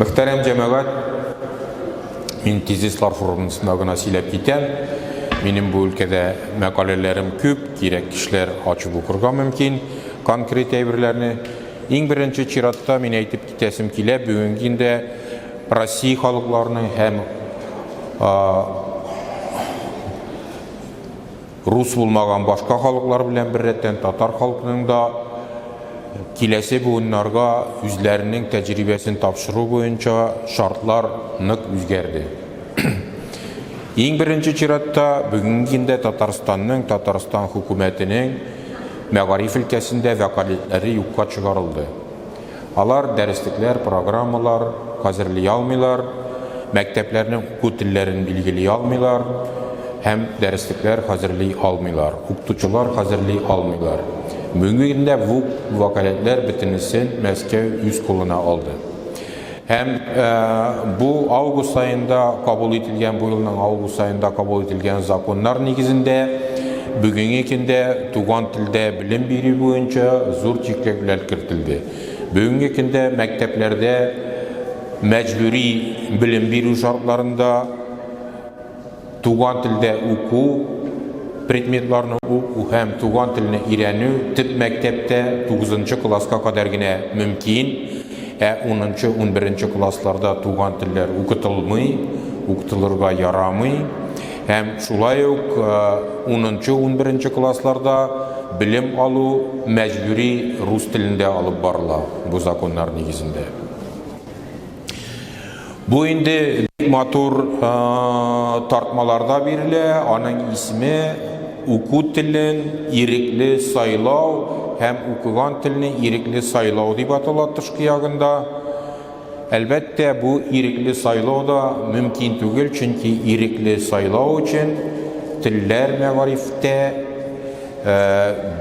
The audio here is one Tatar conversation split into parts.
Мөхтәрәм җәмәгать, мин тезислар формасында гына сөйләп китәм. Минем бу өлкәдә мәкаләләрем күп, кирәк кешеләр ачып укырга мөмкин конкрет әйберләрне. Иң беренче чиратта мин әйтеп китәсем килә, бүгенге көндә Россия халыкларының һәм Рус булмаган башка халыклар белән беррәттән татар халкының да киләсе буыннарга үзләренең тәҗрибәсен тапшыру буенча шартлар нык үзгәрде. Иң беренче чиратта, бүгенге көндә Татарстанның, Татарстан хөкүмәтенең мәгариф өлкәсендә вәкаләтләре юкка чыгарылды. Алар дәреслекләр, программалар хәзерли алмыйлар, мәктәпләрнең уку телләрен билгели алмыйлар һәм дәреслекләр хәзерли алмыйлар, укытучылар хәзерли алмыйлар. Бүгенге көндә бу вәкаләтләр бөтенесен Мәскәү үз кулына алды. Һәм бу август аенда кабул ителгән, бу елның август аенда кабул ителгән законнар нигезендә, Бүгенге көндә туган телдә белем бирү буенча зур чикләүләр кертелде. Бүгенге көндә мәктәпләрдә мәҗбүри белем бирү шартларында туган телдә уку предметларны уку һәм туган телне өйрәнү төп мәктәптә 9 класска кадәр генә мөмкин, ә 10-11 классларда туган телләр укытылмый, укытылырга ярамый. Һәм шулай ук унынчы, унберенче классларда белем алу мәҗбүри рус телендә алып барыла бу законнар нигезендә. Бу инде бик матур тартмаларда бирелә, аның исеме Уку телен ирекле сайлау һәм укыган телне ирекле сайлау дип атала тышкы ягында. Әлбәттә, бу ирекле сайлау да мөмкин түгел, чөнки ирекле сайлау өчен телләр мәгарифтә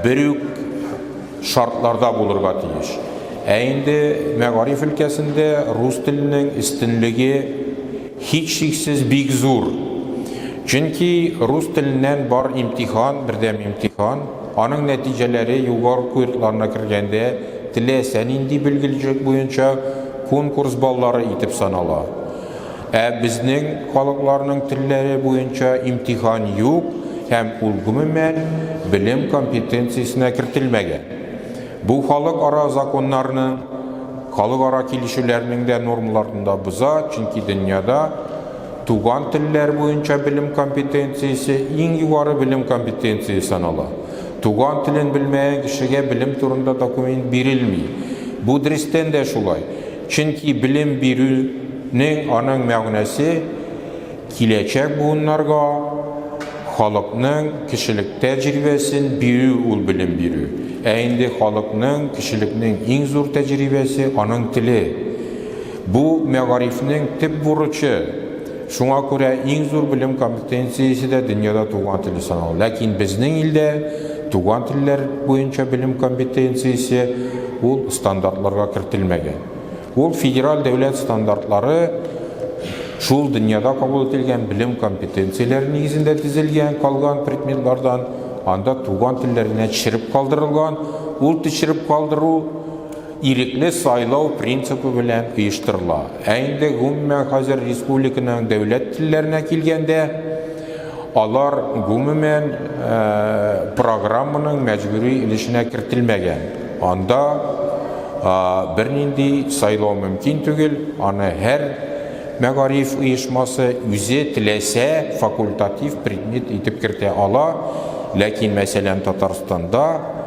бер үк шартларда булырга тиеш. Ә инде мәгариф өлкәсендә рус теленең өстенлеге һичшиксез бик зур. Чөнки рус теленнән бар имтихан, бердәм имтихан, Аның нәтиҗәләре югары курсларына кергәндә теләсә нинди белгечлек буенча конкурс баллары итеп санала. Ә безнең халыкларның телләре буенча имтихан юк һәм ул гомумән белем компетенциясенә кертелмәгән. Бу халыкара законнарның, халыкара килешүләрнең дә нормаларын да боза, чөнки дөньяда, Туган телләр буенча белем компетенциясе иң югары белем компетенциясе санала. Туган телен белмәгән кешегә белем турында документ бирелми. Бу дөрестән дә шулай, чөнки белем бирүнең аның мәгънәсе киләчәк буыннарга халыкның кешелек тәҗрибәсен бирү ул белем бирү. Ә инде халыкның, кешелекнең иң зур тәҗрибәсе, аның теле. Бу, мәгарифнең төп бурычы. Шуңа күрә иң зур белем компетенциясе дә дөньяда туган телне санау. Ләкин безнең илдә туган телләр буенча белем компетенциясе ул стандартларга кертелмәгән. Ул федераль дәүләт стандартлары шул дөньяда кабул ителгән белем компетенцияләре нигезендә тезелгән, калган предметлардан анда туган телләр генә төшереп калдырылган. Ул төшереп калдыру, Ирекле сайлау принципы белән оештырыла. Ә инде гомумән хәзер республиканың дәүләт телләренә килгәндә, алар гомумән программаның мәҗбүри өлешенә кертелмәгән. Анда бернинди сайлау мөмкин түгел, аны һәр мәгариф оешмасы үзе теләсә факультатив предмет итеп кертә ала, ләкин мәсәлән Татарстанда,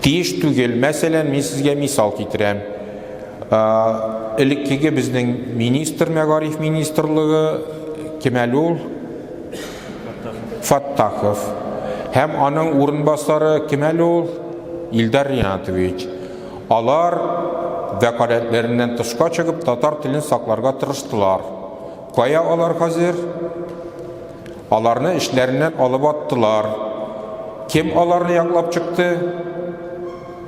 Тиеш түгел. Мәсәлән, мин сезгә мисал китерәм. Элеккеге безнең министр, мәгариф министрлыгы, кем әле ул? Фаттахов. Һәм аның урынбасары, кем әле ул? Илдар Ринатович. Алар вәкаләтләреннән тышка чыгып, татар телен сакларга тырыштылар. Кая алар хәзер? Аларны эшләреннән алып аттылар. Кем аларны яклап чыкты?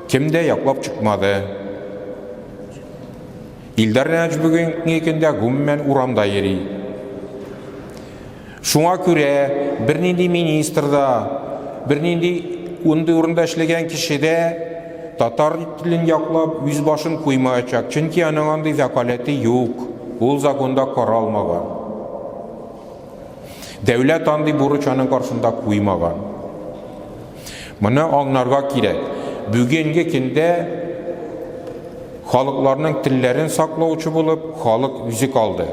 Кем дә яклап чыкмады. Илдар Нәҗ бүгенге көндә гомумән урамда йөри. Шуңа күрә бернинди министр да, бернинди ундый урында эшләгән кеше дә татар телен яклап үз башын куймаячак, чөнки аның андый вәкаләте юк, ул законда каралмаган. Дәүләт андый бурыч аның каршында куймаган. Моны аңнарга кирәк. Бүгенге көндә халыкларның телләрен саклаучы булып халык үзе калды.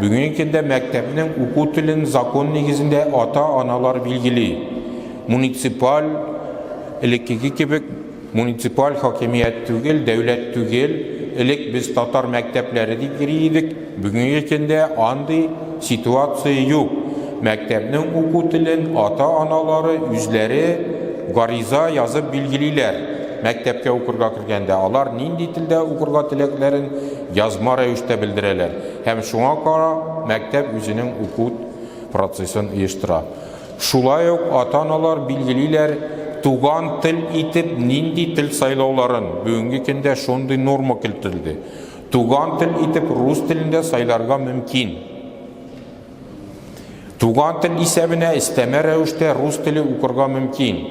Бүгенге көндә мәктәпнең уку телен закон нигезендә ата-аналар билгели. Муниципаль элеккеге кебек Муниципаль хакимият түгел, дәүләт түгел, элек без татар мәктәпләре дип йөри идек, бүгенге көндә андый ситуация юк, мәктәпнең уку телен ата-аналары үзләре гариза язып билгелиләр, мәктәпкә укырга кергәндә алар нинди телдә укырга теләкләрен язма рәвештә белдерәләр һәм шуңа кара мәктәп үзенең уку процессын оештыра. Шулай ук ата-аналар билгелиләр туган тел итеп нинди тел сайлауларын, бүгенге көндә шундый норма кертелде. Туган тел итеп рус телен дә сайларга мөмкин. Туган тел исәбенә өстәмә рәвештә рус теле укырга мөмкин.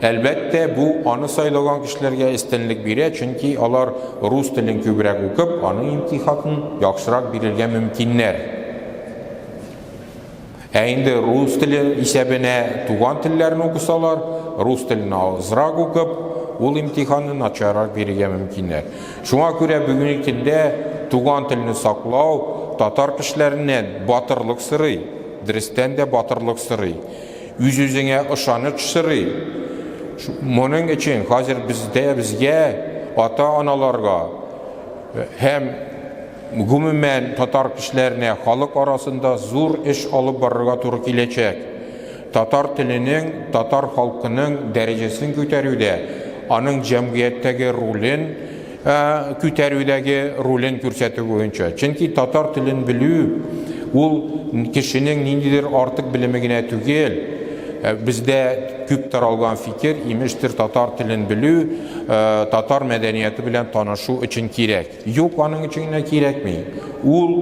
Әлбәттә, бу аны сайлаган кешеләргә өстенлек бирә, чөнки алар рус телен күбрәк укып, аның имтихатын яхшырак бирергә мөмкиннәр. Ә инде рус теле исәбенә туган телләрне укысалар, рус телен азрак укып, ул имтиханны начаррак бирергә мөмкиннәр. Шуңа күрә бүгенге көндә туган телне саклау татар кешеләреннән батырлык сорый, дөрестән дә батырлык сорый, үз-үзеңә ышаныч сорый. Моның өчен хәзер бездә безгә, ата-аналарга һәм Гомумән, татар кешеләренә халык арасында зур эш алып барырга туры киләчәк. Татар теленең, татар халкының дәрәҗәсен күтәрүдә, аның җәмгыятьтәге ролен күтәрүдәге ролен күрсәтү буенча. Чөнки татар телен белү, ул кешенең ниндидер артык белеме генә түгел. Бездә күп таралган фикер, имештер, татар телен белү, татар мәдәнияты белән танышу өчен кирәк. Юк, аның өчен генә кирәкми. Ул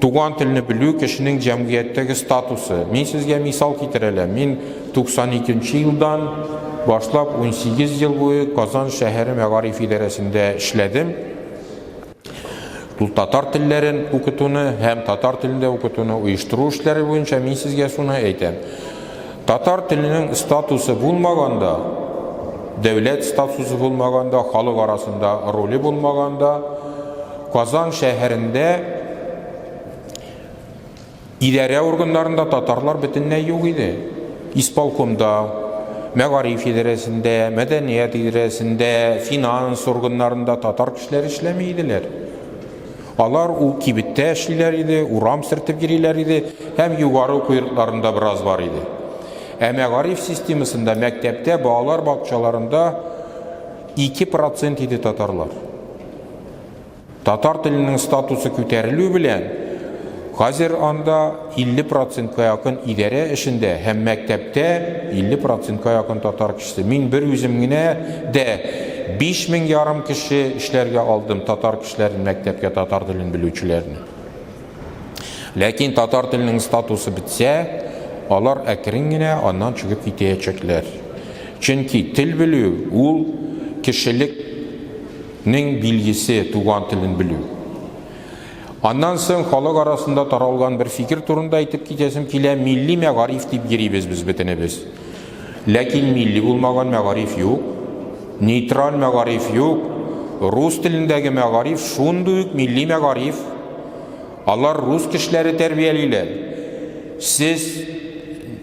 туган телне белү кешенең җәмгыятьтәге статусы. Мин сезгә мисал китерәләм. Мин 92 нче елдан башлап 18 ел буе Казан шәһәре мәгариф идарәсендә эшләдем. Ул татар телләрен укытуны һәм татар телендә укытуны оештыру эшләре буенча мин сезгә суны әйтәм. Татар теленең статусы булмаганда, дәүләт статусы булмаганда, халык арасында роле булмаганда, Казан шәһәрендә идарә органнарында татарлар бөтенләй юк иде. Исполкомда, мәгариф идарәсендә, мәдәният идарәсендә, финанс органнарында татар кешеләре эшләми иделәр. Алар ул кибеттә эшлиләр иде, урам сөртеп йөриләр иде һәм югары уку йортларында бераз бар иде. Ә мәгариф системасында, мәктәптә, балалар бакчаларында ике процент иде татарлар. Татар теленең статусы күтәрелү белән, хәзер анда 50 процентка якын идарә эшендә һәм мәктәптә 50 процентка якын татар кешесе. Мин бер үзем генә дә биш мең ярым кеше эшләргә алдым татар яшьләрен мәктәпкә татар телен белүчеләрне. Ләкин татар теленең статусы бетсә, алар әкрен генә аннан чыгып китәячәкләр. Чөнки тел белү ул кешелекнең билгесе, туган телен белү. Аннан соң халык арасында таралган бер фикер турында әйтеп китәсем килә, милли мәгариф дип йөрибез без бөтенебез. Ләкин милли булмаган мәгариф юк, нейтраль мәгариф юк, рус телендәге мәгариф шундый ук милли мәгариф. Алар рус кешеләре тәрбиялиләр. Сез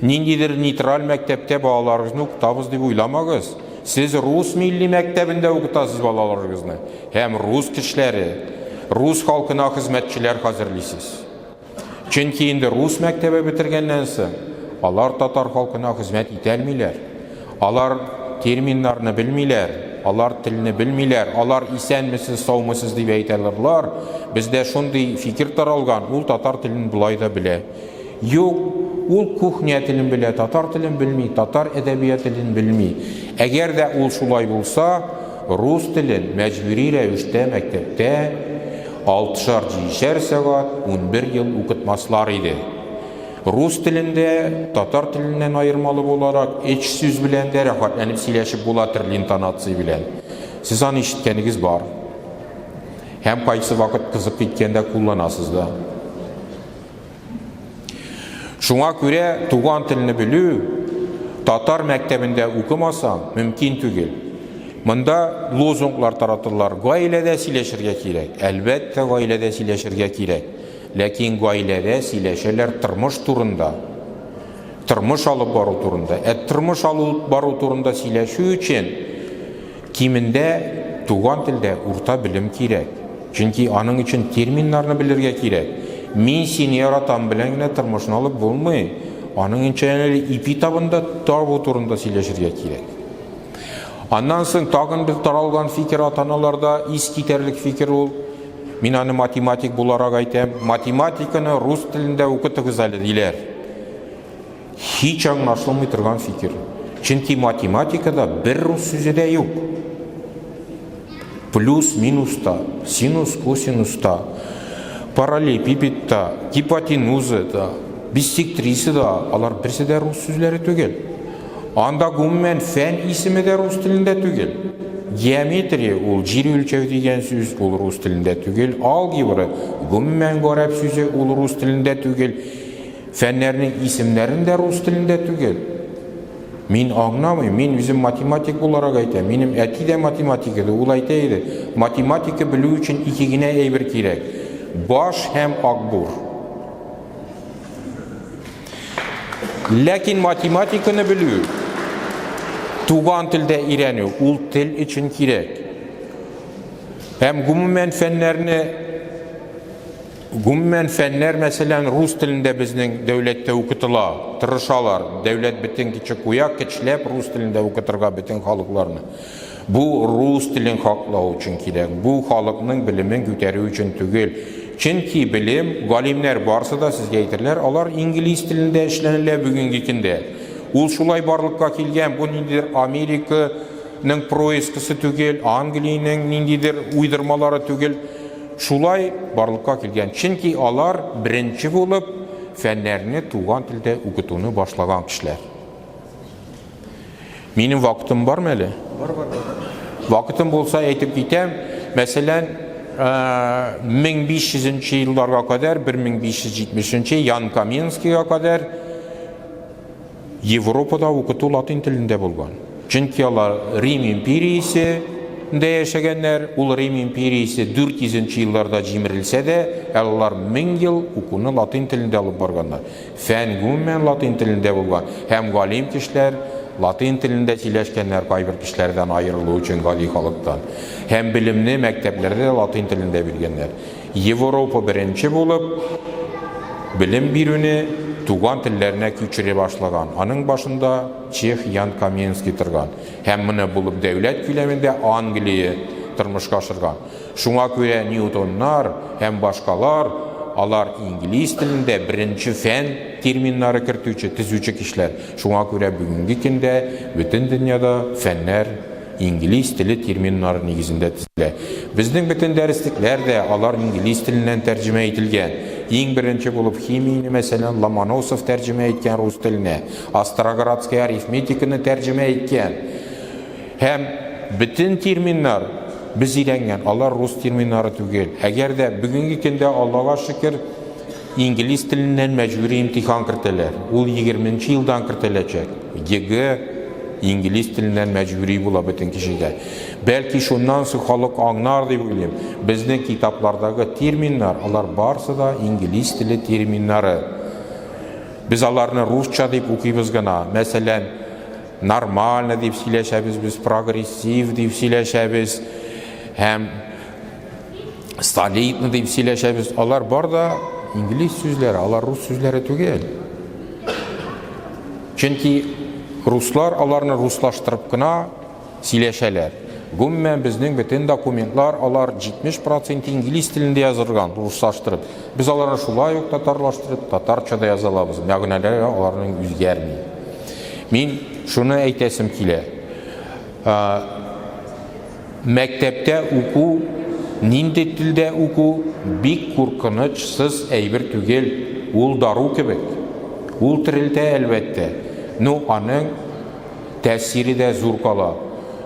ниндидер нейтраль мәктәптә балаларыгызны укытабыз дип уйламагыз. Сез рус милли мәктәбендә укытасыз балаларыгызны һәм рус кешеләре, рус халкына хезмәтчеләр хәзерлисез. Чөнки инде рус мәктәбе бетергәннән соң, алар татар халкына хезмәт итә алмиләр. Алар терминнарны белмиләр, алар телне белмиләр, алар исәнмесез, саумысыз дип әйтә алырлар. Бездә шундый фикер таралган, ул татар телен болай да белә. Юк, ул кухня телен белә, татар телен белми, татар әдәбият телен белми. Әгәр дә ул шулай булса, рус телен мәҗбүри рәвештә мәктәптә, Алтышар-җидешәр сәгать унбер ел укытмаслар иде. Рус телендә, татар теленнән аермалы буларак, өч сүз белән дә рәхәтләнеп сөйләшеп була төрле интонация белән. Сез аны ишеткәнегез бар. Һәм кайсы вакыт кызык киткәндә кулланасыз да. Шуңа күрә туган телне белү татар мәктәбендә укымасаң, мөмкин түгел. Монда лозунглар таратылар. Гаиләдә сөйләшергә кирәк. Әлбәттә, гаиләдә сөйләшергә кирәк. Ләкин гаиләдә сөйләшәләр тормыш турында. Тормыш алып бару турында. Ә тормыш алып бару турында сөйләшү өчен Кимендә туган телдә урта белем кирәк, чөнки аның өчен терминнарны белергә кирәк. Мин сине яратам белән генә тормышны алып булмый, аның өчен әле ипи табында табу турында сөйләшергә кирәк. Аннан соң тагын бер таралган фикер ата-аналарда, искитәрлек фикер ул, мин аны математик буларак әйтәм, математиканы рус телендә укытыгыз әле, диләр. Һич аңлашылмый торган фикер. Чөнки математикада бер рус сүзе дә юк. Плюс, минус та, синус, косинус та, параллелепипед та, гипотенуза да, биссектриса да, алар берсе дә рус сүзләре түгел. Анда гомумән фән исеме дә рус телендә түгел. Геометрия ул җир үлчәү дигән сүз, ул рус телендә түгел. Алгебра гомумән гарәп сүзе, ул рус телендә түгел. Фәннәрнең исемнәрен дә рус телендә түгел. Мин аңнамый, мин үзем математик буларак әйтә, минем әти дә математик иде, ул әйтә иде, математика белү өчен ике генә әйбер кирәк, баш һәм акбур. Ләкин математиканы белү, туган телдә ирәнү, ул тел өчен кирәк. Һәм гомумән фәннәрне Гомумән, фәннәр, мәсәлән, рус телендә безнең дәүләттә укытыла, тырышалар, дәүләт бөтен кече куя, кечләп рус телендә укытырга бөтен халыкларны. Бу рус телен хаклау өчен кирәк, бу халыкның белемен күтәрү өчен түгел. Чөнки белем, галимнәр барсы да сезгә әйтерләр, алар инглиз телендә эшләнелә бүгенге көндә. Ул шулай барлыкка килгән, бу ниндидер Америка ның проискасы түгел, Англиянең ниндидер уйдырмалары түгел. Шулай барлыкка килгән, чөнки алар беренче булып фәннәрне туган телдә укытуны башлаган кешеләр. Минем вакытым бармы әле? Бар, бар, бар. Вакытым булса әйтеп китәм, мәсәлән, 1500 э, нче елларга кадәр, 1570 нче Ян Каменскийга кадәр Европада укыту латин телендә булган, чөнки алар Рим империясе дә яшәгәннәр, ул Рим империясе 400 нче елларда җимерелсә дә, әле алар мең ел укуны латин телендә алып барганнар. Фән гомумән латин телендә булган һәм галим кешеләр латин телендә сөйләшкәннәр кайбер кешеләрдән аерылу өчен гади халыктан. Һәм белемне мәктәпләрдә дә латин телендә биргәннәр. Еворопа беренче булып белем бирүне туган телләренә күчерә башлаган. Аның башында чех Ян Каменский торган. Һәм моны булып дәүләт күләмендә Англия тормышка ашырган. Шуңа күрә Ньютоннар һәм башкалар, алар инглиз телендә беренче фән терминнары кертүче, төзүче кешеләр. Шуңа күрә бүгенге көндә бөтен дөньяда фәннәр, Инглиз теле терминнары нигезендә төзелә. Безнең бөтен дәреслекләр дә алар инглиз теленнән тәрҗемә ителгән. Иң беренче булып химияне, мәсәлән, Ломоносов тәрҗемә иткән рус теленә, Остроградская арифметиканы тәрҗемә иткән. Һәм бөтен терминнар без өйрәнгән, алар рус терминнары түгел. Әгәр дә бүгенге көндә, Аллага шөкер, инглиз теленнән мәҗбүри имтихан кертәләр, ул егерменче елдан кертеләчәк. ЕГЭ инглиз теленнән мәҗбүри була бөтен кешегә. Бәлки шуннан соң халык аңнар дип уйлыйм. Безнең китаплардагы терминнар, алар барсы да инглиз теле терминнары. Без аларны русча дип укыйбыз гына. Мәсәлән, нормально дип сөйләшәбез без, прогрессив дип сөйләшәбез һәм Старлейтны дип сөйләшәбез. Алар бар да инглиз сүзләре, алар рус сүзләре түгел. Чөнки руслар аларны руслаштырып кына сөйләшәләр. Гомумән безнең бөтен документлар алар 70% инглиз телендә язылган, руслаштырып. Без аларны шулай ук татарлаштырып, татарча да яза алабыз. Мәгънәләре аларның үзгәрми. Мин шуны әйтәсем килә. Мәктәптә уку, нинди телдә уку бик куркыныч сыз әйбер түгел, ул дару кебек. Ул терелтә, әлбәттә, ну аның тәэсире дә зур кала.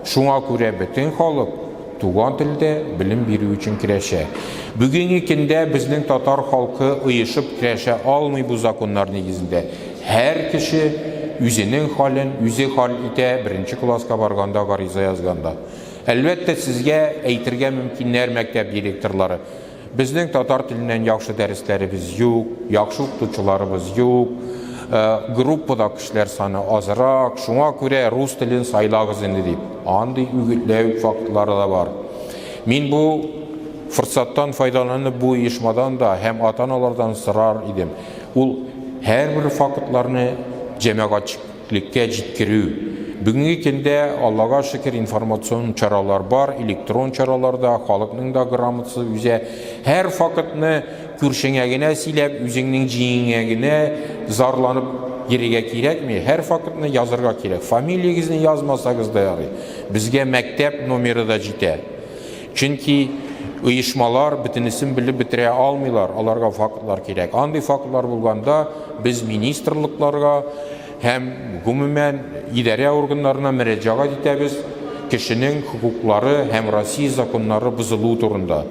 Шуңа күрә бөтен халык туган телдә белем бирү өчен керәшә. Бүгенге көндә безнең татар халкы оешып керәшә алмый бу законнар нигезендә. Һәр кеше үзенең хәлен үзе хәл итә, беренче класска барганда, гариза язганда. Әлбәттә, сезгә әйтергә мөмкиннәр, мәктәп директорлары, Безнең татар теленнән яхшы дәресләребез юк, яхшы укытучыларыбыз юк, группада кешеләр саны азрак, шуңа күрә рус телен сайлагыз инде, дип. Андый үгетләү фактлары да бар. Мин бу форсаттан файдаланып бу оешмадан да һәм ата-аналардан сорар идем. Ул һәрбер фактларны җәмәгатьчелеккә җиткерү. Бүгенге көндә, Аллага шөкер, информацион чаралар бар, электрон чаралар да, халыкның да грамотасы үзә. Һәр фактны күршеңә генә сөйләп, үзеңнең җиңеңә генә зарланып йөрергә кирәкми. Һәр фактны язырга кирәк. Фамилиягезне язмасагыз да ярый. Безгә мәктәп номеры да җитә. Чөнки оешмалар бөтенесен белеп бетерә алмыйлар, аларга фактлар кирәк. Андый фактлар булганда без министрлыкларга һәм гомумән идарә органнарына мөрәҗәгать итәбез кешенең хокуклары һәм Россия законнары бозылуы турында.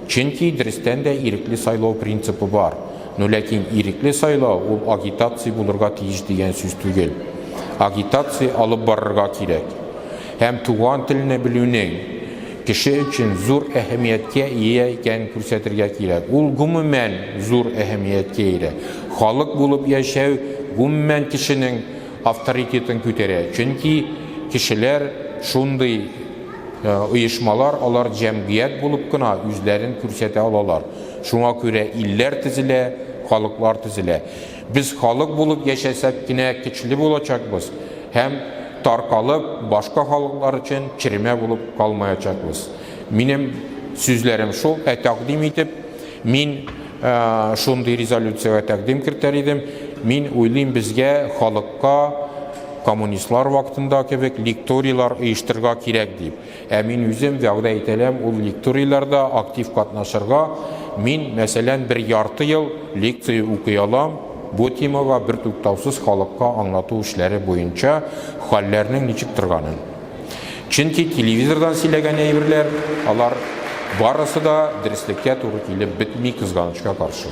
Чөнки дөрестән дә ирекле сайлау принципы бар. Ну ләкин ирекле сайлау ул агитация булырга тиеш дигән сүз түгел. Агитация алып барырга кирәк. һәм туган телне белүнең кеше өчен зур әһәмияткә ия икәнен күрсәтергә кирәк. Ул гомумән зур әһәмияткә ия. Халык булып яшәү гомумән кешенең авторитетын күтәрә, чөнки кешеләр шундый оешмалар, алар җәмгыять булып кына үзләрен күрсәтә алалар. Шуңа күрә илләр төзелә, халыклар төзелә. Без халык булып яшәсәк кенә көчле булачакбыз һәм, таркалып, башка халыклар өчен черемә булып калмаячакбыз. Минем сүзләрем шул, ә тәкъдим итеп, мин шундый резолюциягә тәкъдим кертәр идем, мин уйлыйм, безгә, халыкка, коммунистлар вакытында кебек, лекторийлар оештырырга кирәк, дип. Ә мин үзем вәгъдә ителәм ул лекторийларда актив катнашырга. Мин, мәсәлән, бер ярты ел лекция укый алам бу темага бертуктаусыз халыкка аңлату эшләре буенча хәлләрнең ничек торганын. Чөнки телевизордан сөйләгән әйберләр, алар барысы да дөреслеккә туры килеп бетми, кызганычка каршы.